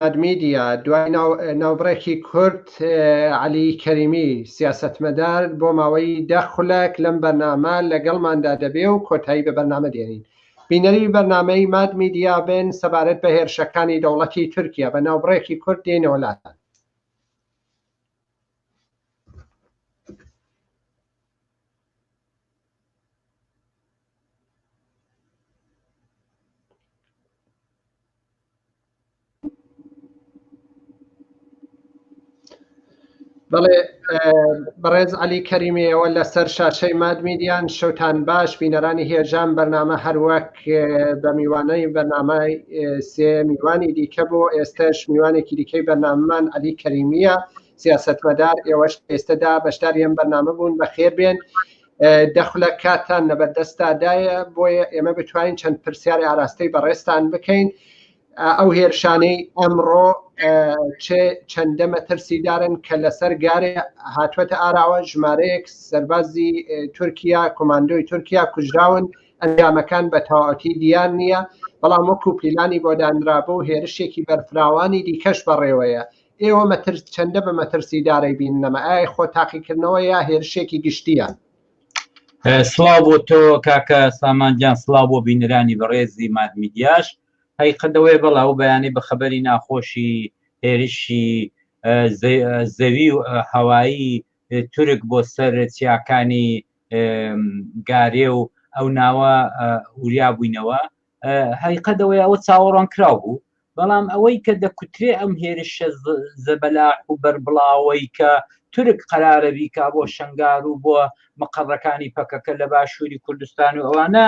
میدیا، دوای ناوبڕێکی کورت، عەلی کەریمی، سیاسەتمەدار بۆ ماوەی دە خولەک لەم بەرنامە لەگەڵماندا دەبێ و کۆتایی بە بەرنامە دێنین. بینەری بەرنامەی ماد میدیا بن سەبارەت بە هێرشەکانی دەوڵەتی تورکیا، بە ناوبڕێکی کورت دێینەوە لاتان. بەڵێ بەڕێز علی کەریمیەوە لەسەر شاشەی مادمیدیان شەوتان باش بینەرانی هێژان بەرنامە هەروەک بە میوانەی بەنامای سێ میوانی دیکە بۆ ئێستش میوانێکی دیکەی بەناممان علی کەریمیە سیاستمەدار ئێوەش ئێستەدا بەشدار یەم بەنامە بوون بە خێر بێن دەخلە کاتان نەبەردەستادایە بۆیە ئێمە بتوانین چەند پرسیاری ئاراستەی بەڕێستان بکەین ئەو هێرشانەی ئەمڕۆ چەندە مەترسیدارن کە لەسەر گارێ هاتووەتە ئاراوە ژمارەیەک سەربازی تورکیا کۆماندۆی تورکیا کوژراون ئەنجامەکان بە تەواتی دیان نییە بەڵام وەکو پیلانی بۆدانرابوو هێرشێکی بەرفراوانی دیکەش بەڕێوەیە ئێوە مەترس چەندە بە مەترسی دارەی بین نەمە ئای خۆ تاقیکردنەوە یا هێرشێکی گشتیە سلااو بۆ تۆ کاکە سامانجان سلااو بۆ بینرانی بەڕێزی مادمیدیاش هەی قەدەوەی بەڵا و بەیانی بە خەبەری ناخۆشی هێرشی زەوی و هەوایی تورک بۆ سەر چیاکانی گارێ و ئەو ناوە وریا بووینەوە هەیقە دەوەی ئەوە چاوەڕوان کراو بوو بەڵام ئەوەی کە دەکوترێ ئەم هێرشە زەبەلاح و بەربڵاوەی کە تورک قرارە بیکا بۆ شنگار و بۆ مقڕەکانی پەکەکە لە باشووری کوردستان و ئەوانە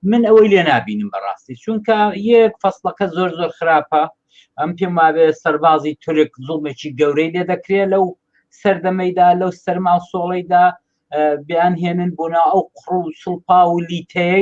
من ئەوەی لێ نبینم بەڕاستی چونکە یەک فەصلەکە زۆر زۆر خراپە ئەم پێم وابێ سەربازی تورک زوڵمێکی گەورەی لێ دەکرێت لەو سەردەمەیدا لەو سەرما سۆڵەیدا بیان هێنن بۆنا ئەو قڕ و سڵپا و لیتەیە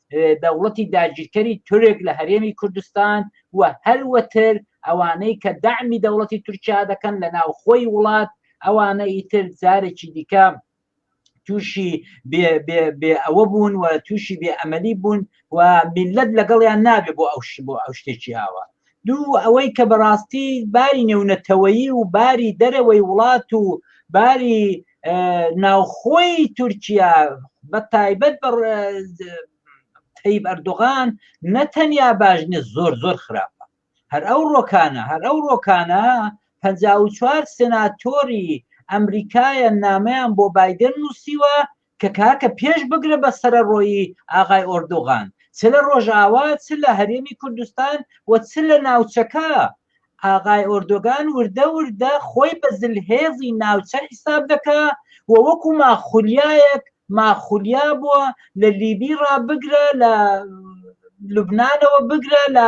دەوڵەتی داگیرکەری تورک لە هەرێمی کوردستان و هەروەتر ئەوانەی کە دەعمی دەوڵەتی تورکیا دەکەن لە ناوخۆی وڵات ئەوانە ئیتر جارێکی دیکە تووشی بێ ئەوە بوون و تووشی بێ ئەمەلی بوون و میلەت لەگەڵیان نابێ بۆ ئەو بۆ ئەو شتێکی ئاوە دوو ئەوەی کە بەڕاستی باری نێونەتەوەیی و باری دەرەوەی وڵات و باری ناوخۆی تورکیا بە تایبەت بە تەیب ئەردوغان نەتەنیا باش نیە زۆر زۆر خراپە هەر ئەو ڕۆکانە هەر ئەو ڕۆکانە پ چوار سناتۆری ئەمریکایە نامیان بۆ بادن نووسیوە کە کاکە پێش بگرە بە سەرەڕۆیی ئاغای ئۆردوغان چ لە ڕۆژئاوا چ لە هەرێمی کوردستان و چ لە ناوچەکە ئاغای ئۆردۆگان وردە وردە خۆی بە زلهێزی ناوچە حیساب دەکا و وەکو ماخولیایەک ماخولیا بووە لە لیبی ڕابگرە لە لوبنانەوە بگرە لە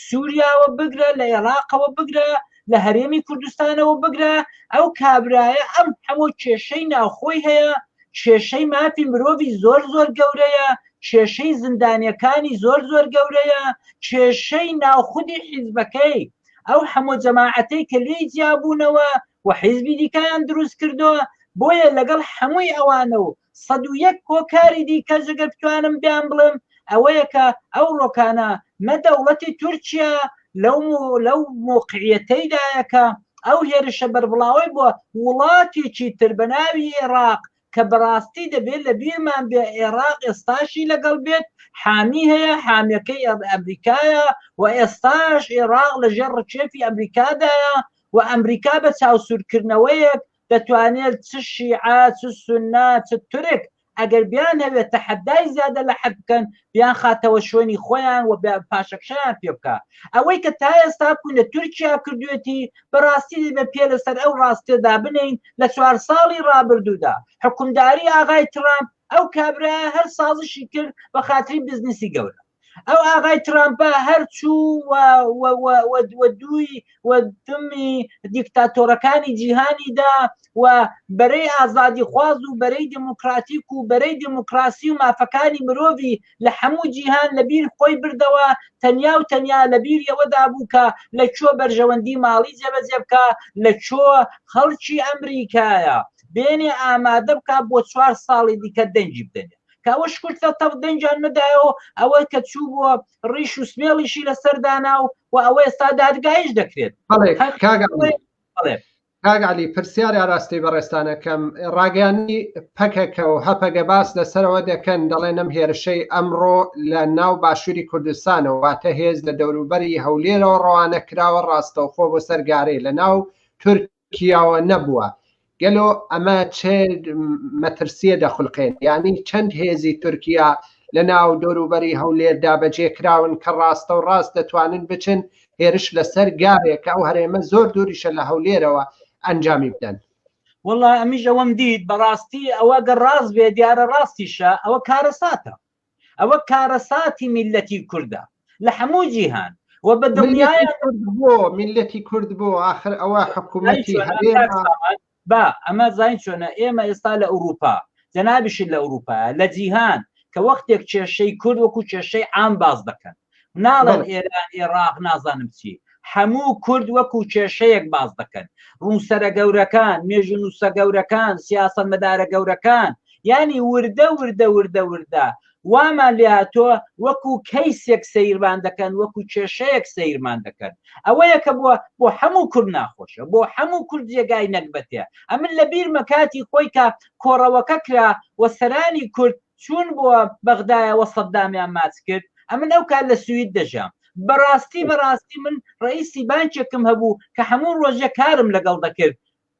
سووریاوە بگرە لە عێراقەوە بگرە لە هەرێمی کوردستانەوە بگرە ئەو کابرایە ئەم هەمۆ کێشەی ناوخۆی هەیە کێشەی مافی مرۆڤی زۆر زۆر گەورەیە کێشەی زیندانەکانی زۆر زۆر گەورەیە کێشەی ناوخودی حیزبەکەی ئەو هەمۆ جەماعەتەی کە لێی جیابوونەوە و حیزبی دیکەیان دروست کردەوە بۆیە لەگەڵ هەمووی ئەوانە و سەد و یەک هۆکاری دیکە جگە بتوانم بیان بڵێم ئەوەیە کە ئەو ڕۆکانە نە دەوڵەتی تورکیا لەو لەو موقعیەتەیدایەکە ئەو هێرشە بەربڵاوەی بۆ وڵاتێکی تر بە ناوی عێراق کە بەڕاستی دەبێت لە بیرمان بێ عێراق ئێستاشی لەگەڵ بێت حامی هەیە حامیەکەی ئەمریکایە و ئێستاش عێراق لەژێر ڕچێفی ئەمریکادایە و ئەمریکا بە چاوسورکردنەوەیەک دەتوانێت چ شیعە چ سونە چ تورک ئەگەر بیانەوێت تەحەدای زیادە لە حەد بکەن بیانخاتەوە شوێنی خۆیان و پاشەکشەیان پێ بکە ئەوەی کە تا ئێستا بکوون لە تورکیا کردوێتی بەڕاستی دەبێت پێ لەسەر ئەو ڕاستێدا بنین لە چوار ساڵی ڕابردوودا حکومداری ئاغای ترامپ ئەو کابرا هەر سازشی کرد بە خاتری بزنسی گەورە ئەو ئاغای ترامپە هەرچوو دووی وەدمی دیکتاتۆرەکانی جیهانیدا و بەرەی ئازادی خواز و بەرەی دموکراتیک و بەرەی دموکراسی و مافەکانی مرۆڤی لە هەموو جیهان لەبیر خۆی بردەوە تەنیا و تەنیا لەبیر ئەوەدا بوو کە لە چۆ بەرژەوەندی ماڵی جێبەجێ بکە لە چۆ خەڵکی ئەمریکایە بێنێ ئامادە بکە بۆ چوار ساڵی دیکە دەنگی بدەنێ کاوە شکر تە تەق دەنجان ندایەوە ئەوە کە چوو بووە ڕیش و سمێڵیشی لە سەردانا و و ئەوە ئێستا دادگایش دەکرێت کاگالی پرسیار ئاراستی بەڕێستانەکەم ڕاگەانی پەکەکە و هەپەگە باس لەسەرەوە دەکەن دەڵێن ئەم هێرشەی ئەمڕۆ لە ناو باشووری کوردستانەوە واتە هێز لە دەوروبەری هەولێرەوە ڕەوانە کراوە ڕاستەوخۆ بۆ سەرگارەی لە ناو تورکی کیاوە نەبووە گەلۆ ئەمە چ مەترسیە دەخولقێن یانی چەند هێزی تورکیا لە ناو دەوروبەری هەولێر دابەجێ کراون کە ڕاستەو ڕاست دەتوانن بچن هێرش لە سەر گاوێ کە ئەو هەرێمە زۆر دووریشە لە هەولێرەوە ئەنجامی بدەن. وەڵا ئەمیش ئەوەم دیت بەڕاستی ئەوە گەر ڕاست بێ دیارە ڕاستیشە ئەوە کارەساتە ئەوە کارەساتی میللەتی کوردە لە هەموو جیهان و بە دڵنیایە کورد بۆ میللەتی کورد بۆ ئاخر ئەوە حکوومەتی هەرێمە با ئەمە زین چۆنە ئێمە ئێستا لە ئەوروپا جەنابیشت لە ئەوروپا لە جیهان کە وەختێک کێشەی کورد وەکو کێشەی عام باز دەکەن ناڵێن ئێران ئێڕاق نازانم چی هەموو کورد وەکو کێشەیەک باز دەکەن ڕووسەرە گەورەکان مێژو نووسە گەورەکان سیاسە مەدارە گەورەکان ینی وردە وردە وردە وردە وامان لاتۆ وەکو کەیسێک سەیرمان دەکەن وەکو کێشەیەک سەیرمان دەکەن ئەوەیە کە بووە بۆ هەموو کورد ناخۆشە بۆ هەموو کورد جێگای نەکبەتێ ئەمن لە بیرمە کاتی خۆی کە کۆڕەوەکە کرا و سەرانی کورد چوون بۆ بەغدایەوە سەددامیان ماچ کرد ئەمن ئەو کار لە سوید دەژام بەڕاستی بەڕاستی من ڕئیسی بانکێکم هەبوو کە هەموو ڕۆژە کارم لەگەڵ دەکرد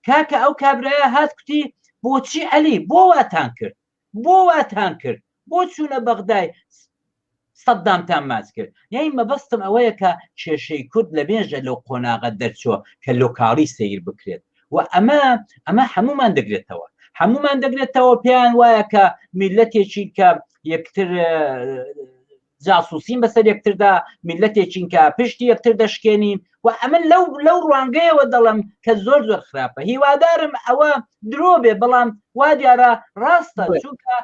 کاکە ئەو کابراە هات کوتی بۆچی عەلی بۆ واتان کرد بۆ واتان کرد بۆ چوونە بەغدای سەددامتان ماچ کرد. یانی مەبەستم ئەوەیە کە کێشەی کورد لە مێژە لەو قۆناغە دەرچووە کە لۆکاڵی سەیر بکرێت و ئەمە ئەمە هەموومان دەگرێتەوە هەموومان دەگرێتەوە پێیان وایە کە میلەتێکین کە یەکتر جاسوسین بەسەر یەکتردا میلەتێکین کە پشتی یەکتر دەشکێنین و ئەمە لەو لەو ڕوانگەیەوە دەڵم کە زۆر زۆر خراپە هیوادارم ئەوە درۆ بێ بەڵام وا دیارە ڕاستە چونکە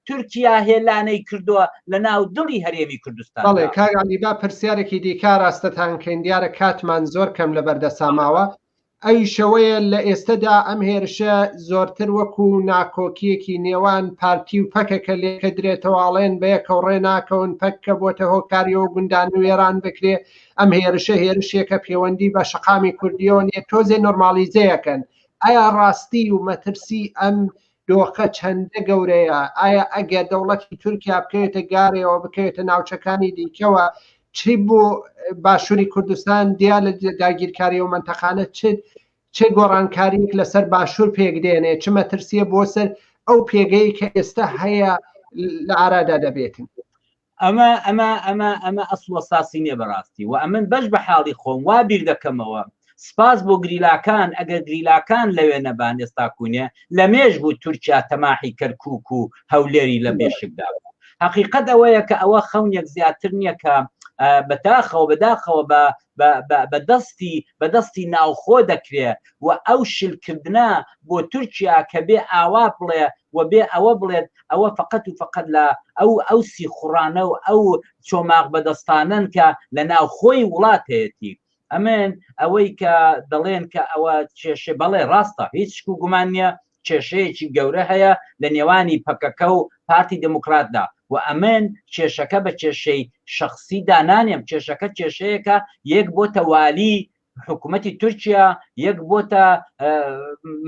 تورکیا هێلانەی کردووە لە ناو دڵی هەرێمی کوردستان. بەڵێ کاک عەلی با پرسیارێکی دیکە ئاراستەتان کەین دیارە کاتمان زۆر کەم لە بەردەسا ماوە ئەویش ئەوەیە لە ئێستەدا ئەم هێرشە زۆرتر وەکو ناکۆکیەکی نێوان پارتی و پەکەکە لێکە درێتەوە ئەڵێن بە یەکەو ڕێ ناکەون پەککە بۆتە هۆکاریەوە گوندان و وێران بکرێ ئەم هێرشە هێرشێکە پێوەندی بە شەقامی کوردیەوە نیە تۆزێ نۆرمالیزەیەکەن ئایا ڕاستی و مەترسی ئەم دۆخە چەندە گەورەیە، ئایا ئەگەر دەوڵەتی تورکیا بکەوێتە گارێەوە بکەوێتە ناوچەکانی دیکەوە چ بۆ باشووری کوردستان دیا لە داگیرکاری و منتەقانە چ چ گۆڕانکاریک لەسەر باشوور پێک دێنێ چ مەترسیە بۆ سەر ئەو پێگەی کە ئێستا هەیە لە ئارادا دەبێتن ئەمە ئەمە ئەمە ئەمە ئەسڵ و ئەساسی نیە بەڕاستی و ئەمن بەش بە حاڵی خۆم وا بیر دەکەمەوە سپاس بۆ گریلاکان ئەگەر گریلاکان لەوێ نەبان ئێستا کوونێ لە مێژ بوو تورکیا تەماحی کەرکووک و هەولێری لە بێشکدا بوو هەقیقەت ئەوەیە کە ئەوە خەونێک زیاتر نییە کە بەتاخەوە بەداخەوە بە بە دەستی بە دەستی ناوخۆ دەکرێ و ئەو شل کردنە بۆ تورکیا کە بێ ئاوا بڵێ و بێ ئەوە بڵێت ئەوە فەقەت و فەقەت لە ئەو ئەو سیخوڕانە و ئەو چۆماغ بەدەستانەن کە لە ناوخۆی وڵات هەیەتی ئەمن ئەوەی کە دەڵێن کە ئەوە کێشێ بەڵێ ڕاستە هیچ شک و گومان نییە کێشەیەکی گەورە هەیە لە نێوانی پەکەکە و پارتی دێموکڕاتدا و ئەمن کێشەکە بە کێشەی شەخسی دانانێم، کێشەکە کێشەیەکە یەک بۆتە والی حکومەتی تورکیا، یەک بۆتە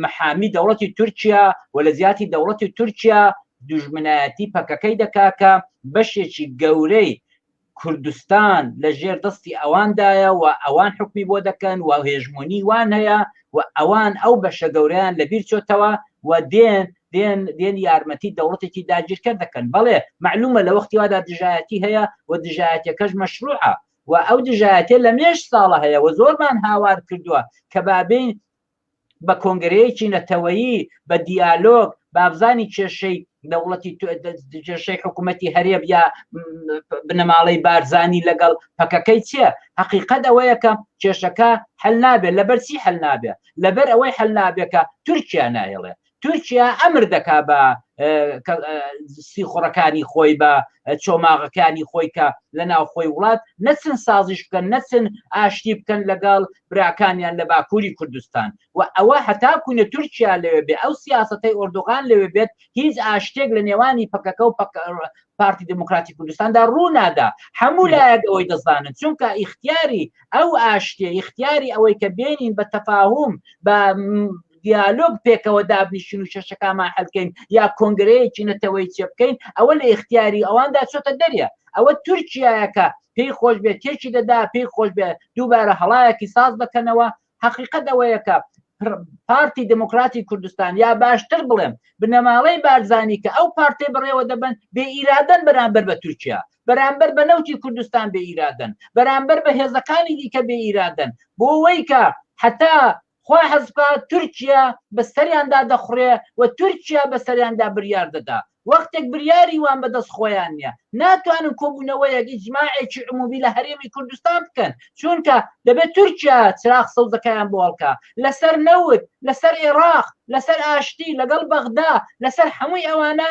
محامی دەوڵەتی تورکیا و لە جیاتی دەوڵەتی تورکیا دوژمنایەتی پەکەکەی دەکا کە بەشێکی گەورەی کوردستان لە ژێر دەستی ئەواندایە و ئەوان حکومی بۆ دەکەن و هێژمۆنی وان هەیە و ئەوان ئەو بەشە گەوریان لە بیر چۆتەوە و دێن دێن دێن یارمەتی دەوڵەتێکی داگیرکە دەکەن بەڵێ معلومە لە وەختی وادا دژایەتی هەیە و دژایەتەکەش مەشروعە و ئەو دژایەتە لە مێش ساڵە هەیە و زۆرمان هاوار کردووە کە بابین بە کۆنگرەیەکی نەتەوەیی، بە دیالۆگ، بابزانین کێشەی دەوڵەتی کێشەی حکوومەتی هەرێم یا بنەماڵەی بارزانی لەگەڵ پەکەکەی چیە؟ هەقیقەت ئەوەیە کە کێشەکە حل نابێت، لەبەرچی حل نابێت؟ لەبەر ئەوەی حل نابێت کە تورکیا نایڵێت، تورکیا ئەمر دەکات بە سیخوڕەکانی خۆی بە چۆماغەکانی خۆی کە لە ناوخۆی وڵات نەچن سازیش بکەن نەچن ئاشتی بکەن لەگەڵ براکانیان لە باکووری کوردستان و ئەوە هەتا کوونە تورکیا لەوێ بێ ئەو سیاستەی ئۆردوغان لەوێ بێت هیچ ئاشتێک لە نێوانی پەکەکە و پارتی دموکراتی کوردستاندا ڕوونادا هەموو لایەک ئەوەی دەزانن چونکە ئیختیاری ئەو ئاشتێ ئیختیاری ئەوەی کە بێنین بە تەفاهم بە دیالۆگ پێکەوە دابنیشین و شەشەکامان حلکەین یا کۆنگرەیەکی نەتەوەی چێ بکەین ئەوە لە اختیاری ئەواندا چۆتە دەریە ئەوە تورکایەکە پێی خۆش بێت تێکی دەدا پێی خۆش بێت دووبارە هەڵایەکی ساز دەکەنەوە حقیقت ئەوەیەکە پارتی دموکراتی کوردستان یا باشتر بڵێم بنەماڵەی بارزانانی کە ئەو پارتی بڕێوە دەبن بێ ئیرادەن بەرامبەر بە تورکیا بەرامبەر بە نەوتی کوردستان بێ ئیرادەن بەرامبەر بە هێزەکانی دیکە بێ ئیرادەن بۆ وەیکە حتا خوا حەزبکا تورکیا بە سەریاندا دەخوڕێ و تورکیا بە سەریاندا بریار دەدا وەختێک بریاری وان بە دەست خۆیان نیە ناتوانن کۆبونەوەیەک ئیجماعێکی عمومی لە هەرێمی کوردستان بکەن چونکە دەبێت تورکیا چراغ سەوزەکەیان بۆ هەڵکا لەسەر نەوت لەسەر ئێراق لەسەر ئاشتی لەگەڵ بەغدا لەسەر حەمووی ئەوانە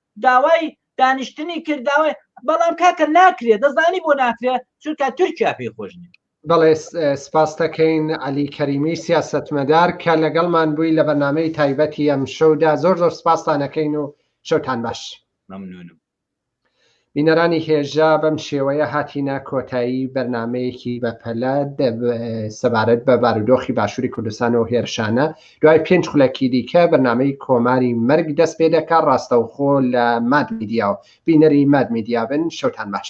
داوای دانیشتنی کرد داوای بەڵام کاکە ناکرێت دەزانی بۆ ناکرێت چونکە تورکیا پێی خۆش نیە بەڵێ سپاس دەکەین علی کەریمی سیاستمەدار کە لەگەڵمان بووی لە بەرنمەی تایبەتی ئەم شەودا زۆر زۆر سپاستانەکەین و شەوتان باش ممنونم بینەرانی هێژا بەم شێوەیە هاتینە کۆتایی بەرنمەیەکی بەپەلە سەبارەت بە بارودۆخی باشووری کوردستان و هێرشانە دوای پێنج خولەکی دیکە بەرنامەی کۆماری مەرگ دەست پێ دەکات ڕاستەوخۆ لە ماد میدیا و بینەری ماد میدیا بن شەوتان باش.